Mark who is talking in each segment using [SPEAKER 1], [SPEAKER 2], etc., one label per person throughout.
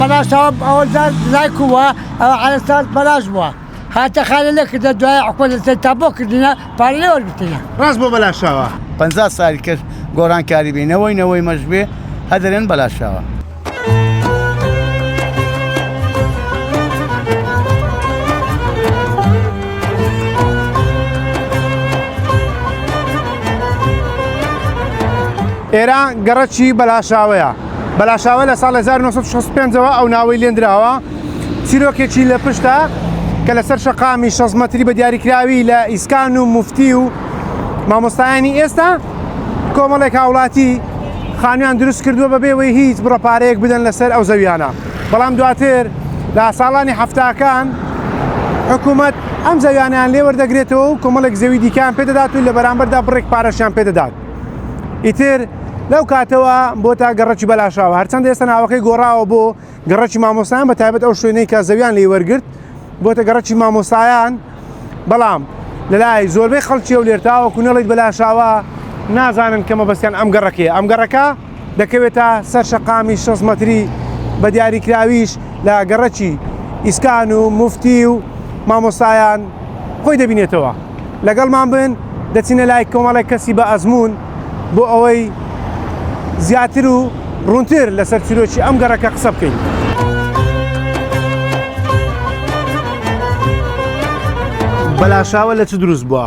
[SPEAKER 1] بەناچاو ئەوە زار لای کووە ئەوە عەرەسات بەلاش بووە هاتە خانە لێکردە دوای حکومەت لەسەر تا بۆ کردنە پارە لێ وەرگرتنە. ڕاست بۆ بەلاشاوە.
[SPEAKER 2] پەنجا سالی کەس
[SPEAKER 3] گۆران کاری بی نەوەی نەوەی مەش بێ هە دەرێن بەلاشاوە. ئێران
[SPEAKER 2] گەڕەکی بەلاشاوەیە. بەلاشاوە لە ساڵی 1965 ەوە ئەو ناوەی لێندراوە چیرۆکێکی لە پشتە کە لەسەر شەقامی شەست مەتری بە دیاریکراوی لە ئیسکان و مفتی و مامۆستایانی ئێستا کۆمەڵێک هاوڵاتی خانویان دروست کردووە بەبێ وەی هیچ بڕە پارەیەک بدەن لەسەر ئەو زەویانە بەڵام دواتر لە ساڵانی هەفتاکان حکوومەت ئەم زەویانیان لێوەردەگرێتەوە و کۆمەڵێک زەوی دیکان پێدەدات و لە بەرامبەردا بڕێک پارەشیان پێدەدات ئیتر لەو کاتەوە بۆ تا گەڕکی بەلاشاوە هەرچەند ئێستا ناوەکەی گۆڕاوە بۆ گەڕکی مامۆستان بە تایبەت ئەو شوێنەی کە زەویان لی وەرگرت بۆتە گەڕکی مامۆستایان بەڵام لەلای زۆربەی خەڵکی و لێرتاوە کونەڵیت بەلاشاوە نازانن کەمە بەستیان ئەم گەڕەکەیە ئەم گەڕەکە دەکەوێتە سەر شەقامی شەست مەتری بە دیاریکراویش لە گەڕەکی ئیسکان و مفتی و مامۆستایان خۆی دەبینێتەوە لەگەڵمان بن دەچینە لای کۆمەڵێک کەسی بە ئەزموون بۆ ئەوەی زیاتر و ڕوونتر لەسەر چیرۆکی ئەم گەڕەکە قسە بکەین. بەلاشاوە لە چ دروست بووە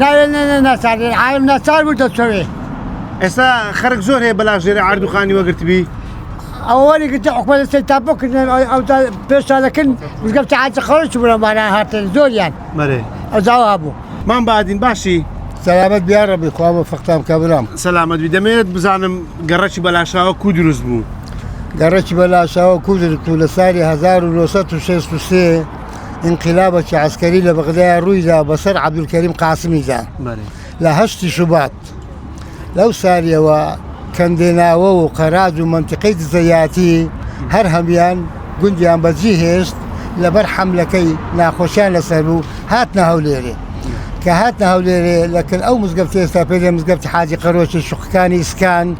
[SPEAKER 1] ناوێ نێ نێ ناچار بێ عالم ناچار بوو دەچەوێ ئێستا
[SPEAKER 2] خەرک زۆر هەیە بەلاش ژێرە ئاردوخانی وەگرتبی ئەوەی
[SPEAKER 1] گرتە حکومەت سەی تا بکردن ئەو پێشانەکرد وزگەم تاعاجە خەڵکی بوونەمانە هاتن زۆریان مەرێ ئەزاوا
[SPEAKER 2] هەبوو
[SPEAKER 1] مام بادین باشی
[SPEAKER 2] سەلامەت بیا
[SPEAKER 4] ڕەبی خوا بە فەختام کە برام سەلامەت بی دەمێت
[SPEAKER 2] بزانم گەڕەکی بەلاشاوە کو دروست بوو گەڕەکی
[SPEAKER 4] بەلاشاوە کو دروست و لە ساری 1963 ئینقلابەکی عەسکەری لە بەغدایا ڕوویدا بەسەر عەبدولکەریم قاسمیدا لە هەشتی شوبات. لەو ساریەوە کەندێناوە و قەراج و مەنتیقەی دزەیاتی هەر هەموویان گوندیان بەجیهێشت لەبەر حەملەکەی ناخۆشیان لەسەر بوو هاتنە هەولێرێ. کە هاتنە هەولێرێ لە کن ئەو مزگەفتە ئێستا پێێ مزگەفتی حاجی قەرۆکی شوقەکانی ئیسکان،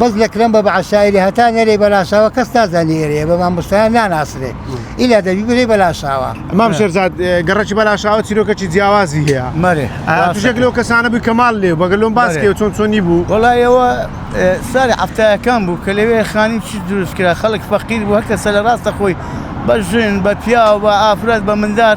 [SPEAKER 4] بەس لەکرم بە بەعەشایەری هەتا نەرێی بەلاشاوە کەس نازانی ئێرەیە بە مامۆستایان ناناسرێ ئیلا دەبی بری بەلاشاوە. مام شێرزاد
[SPEAKER 2] گەڕەکی بەلاشاوە چیرۆکەکی جیاوازی هەیە مەرێ توشێک
[SPEAKER 3] لەو کەسانە
[SPEAKER 2] بووی کە ماڵ لێ بووە گەر لۆم باس کەی چۆن چۆنی بوو؟ وەڵا ئێوە
[SPEAKER 3] سالی حەفتایەکان بوو کە لەوێ خانی چی دروست کرا خەڵک فەقیر بوو هەر کەسە لە ڕاستەخۆی بە ژن بە پیاو بە ئافرەت بە مندار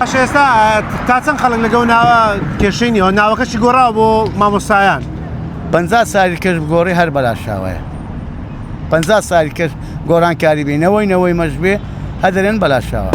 [SPEAKER 3] باشە ئێستا
[SPEAKER 2] تا چەند خەڵک لەگەڵ ناوە کێشەی نیەوە ناوەکەشی گۆڕاوە بۆ مامۆستایان پ
[SPEAKER 3] ساوی کەش بگۆڕی هەر بەلاشاوەیە پ ساوی کەش گۆرانکاری بێ نەوەی نەوەی مەش بێ هەدەرێن بەلاشاوە.